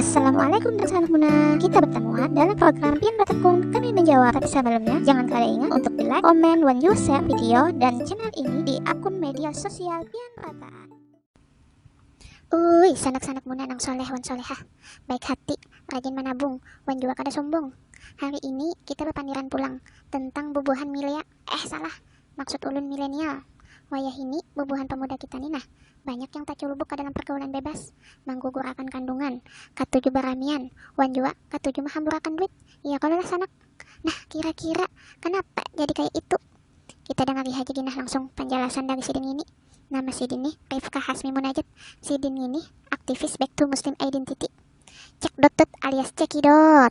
Assalamualaikum dan salam guna. Kita bertemu dalam program Pian Bertekun kami menjawab. Tapi sebelumnya, jangan kalian ingat untuk di like, comment, dan you share video dan channel ini di akun media sosial Pian Pataan. Ui, sanak-sanak muna nang soleh wan solehah, baik hati, rajin menabung, wan juga kada sombong. Hari ini kita berpandiran pulang tentang bubuhan milea, eh salah, maksud ulun milenial. Wayah ini bubuhan pemuda kita nih nah, Banyak yang taculubuk ka dalam pargaulan bebas, manggugurakan kandungan, katuju baramian, wan jua katuju mahamburakan duit, iya kalo lah Sanak? Nah, kira-kira kanapa jadi kaya itu? Kita dangari haja gin nah langsung panjalasan dari sidin ngini. Nama sidin nih Rifka Hasmi Munajat, sidin ngini aktivis Back to Muslim Identity, Cekdotdot alias Cekidot.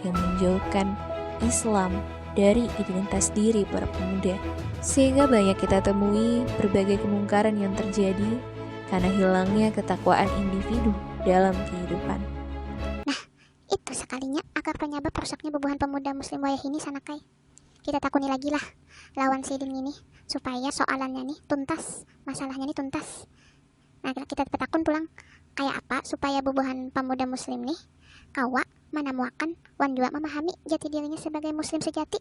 yang menjauhkan Islam dari identitas diri para pemuda. Sehingga banyak kita temui berbagai kemungkaran yang terjadi karena hilangnya ketakwaan individu dalam kehidupan. Nah, itu sekalinya akar penyebab rusaknya bubuhan pemuda muslim wayah ini sanakai. Kita takuni lagi lah lawan sidin ini supaya soalannya nih tuntas, masalahnya nih tuntas. Nah, kita betakun pulang, kaya apa supaya bubuhan pamuda Muslim nih kawa manamuakan wan jua mamahami jati dirinya sabagai Muslim sejati?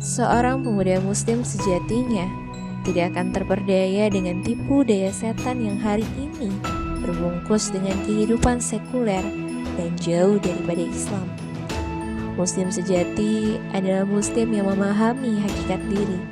Seorang pemuda Muslim sejatinya tidak akan terperdaya dengan tipu daya setan yang hari ini terbungkus dengan kehidupan sekuler dan jauh daripada Islam. Muslim sejati adalah Muslim yang memahami hakikat diri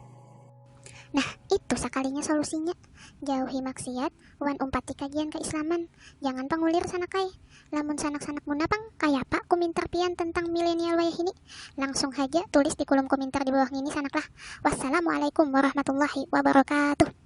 Nah, itu sakalinya solusinya. Jauhi maksiat, wan umpati kajian keislaman. Jangan pangulir sanakai. Lamun sanak-sanak muna pang, kayapa kumintar pian tentang milenial wayahini? Langsung haja tulis di kulum kumintar di bawah ngini sanaklah. Wassalamualaikum warahmatullahi wabarakatuh.